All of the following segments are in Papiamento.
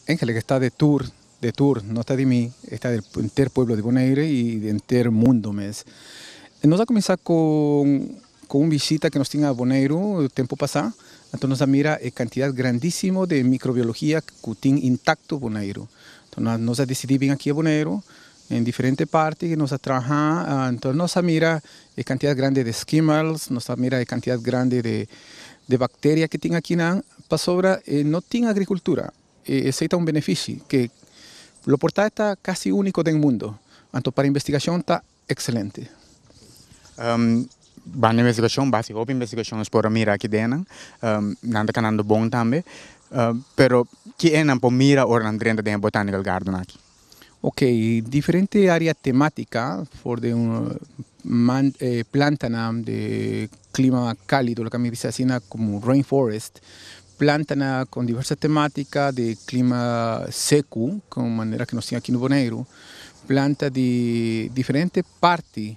Angel ke ta de tur, de tur, no ta di mi, e ta di enter pueblo di Bonaire y di enter mundo mes. Nos a cuminsa cu un visita ke nos tin a Boneiru tempo pasa, anto nos a mira e cantidad grandisimo de microbiologia cu tin intacto Boneiru. Nos a dicidi bin aki a Boneiru Den diferente parti ku nos a traha, enton nos a mira e kantidat grandi di skimmels, nos a mira e kantidat grandi di bakteria ku tin akinan, pasobra e no tin agrikultura. E esei ta un benefishi ku lo por ta e ta kasi úniko den mundu. Anto para investigashon ta ekselente. Banda investigashon básiko, hopi investigashon nos por a mira aki den nan, nan ta kanando bon tambe. Pero ke e nan por mira ora nan drenta den e botanikal gardennan aki? Ok, diferente área temátika for den un man e plantanan di klima kálido, loke mi bisa asina komo rain forest, plantanan kon diverso temátika di klima seku, kon manera ku nos tin aki na Boneiru, planta di diferente parti.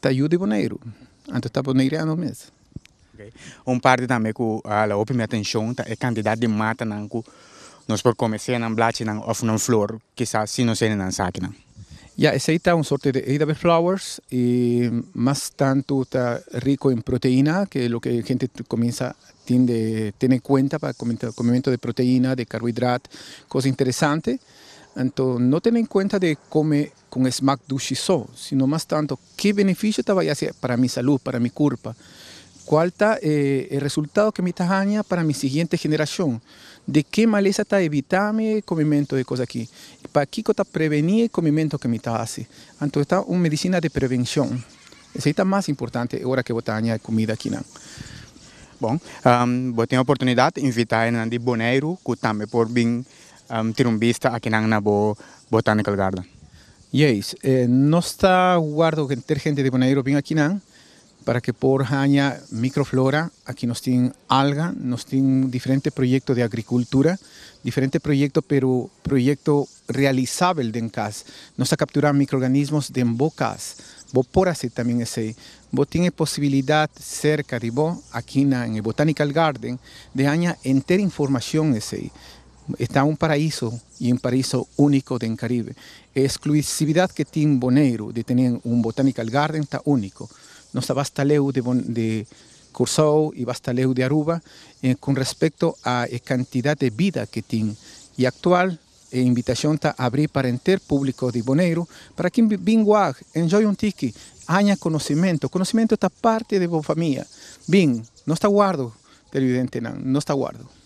Ta yu di Boneiru. Anto ta Boneiriano mes. Un parti tambe ku a la hopi mi atenshon ta e kantidat di matanan ku nos por kome, sea nan blachinan òf nan flor, kisas si nos hende nan sa akinan. Ya, esei ta un sorte di edible flowers i mas tantu ta riko en proteina, ke loke e hende kominsha tin de tene en kuenta pa komementu di proteina, di karbohidrat, kos interesante. Anto no tene en kuenta di kome con e smaak dushi so, sino mas tanto ke beneficio ta bay haci para mi salud, para mi curpa? Cual ta e e resultado ke mi ta haña para mi siguiente generacion? De ke malesa ta evita mi e comimento e cos aki? Y pakico ta preveni e comimento ke mi ta haci? Anto e ta un medicina de prevencion. Esey ta mas importante e ora ke bo ta haña e cumida akinan. Bon, bo tin e oportunidad invita e nan di Boneiru cu tambe por bin Am tira un bista akinan na bo botanical garden. Juis, nos ta warda cu henter gente di Boneiru bin akinan para que por haña microflora. Aki nos tin alga, nos tin diferente proyecto di agricultura, diferente proyecto pero proyecto realisabel den cas. Nos ta captura microorganismos den bo cas. Bo por haci tambien esey. Bo tin e posibilidad cerca di bo, akinan en e botanical garden, di haña henter informacion esey. E ta un paraiso y un paraiso unico den Caribe. E exclusividad que tin Boneiru di tene un botanical garden ta unico. Nos ta basta leu di Curaçao y basta leu di Aruba con respecto a e cantidad di bida que tin. Y actual e invitacion ta abri para enter publico di Boneiru para kin bin waak, enjoy un tiki, haña conocimento. Conocimento ta parti di bo famia. Bin, nos ta wardo perviventenan, nos ta wardo.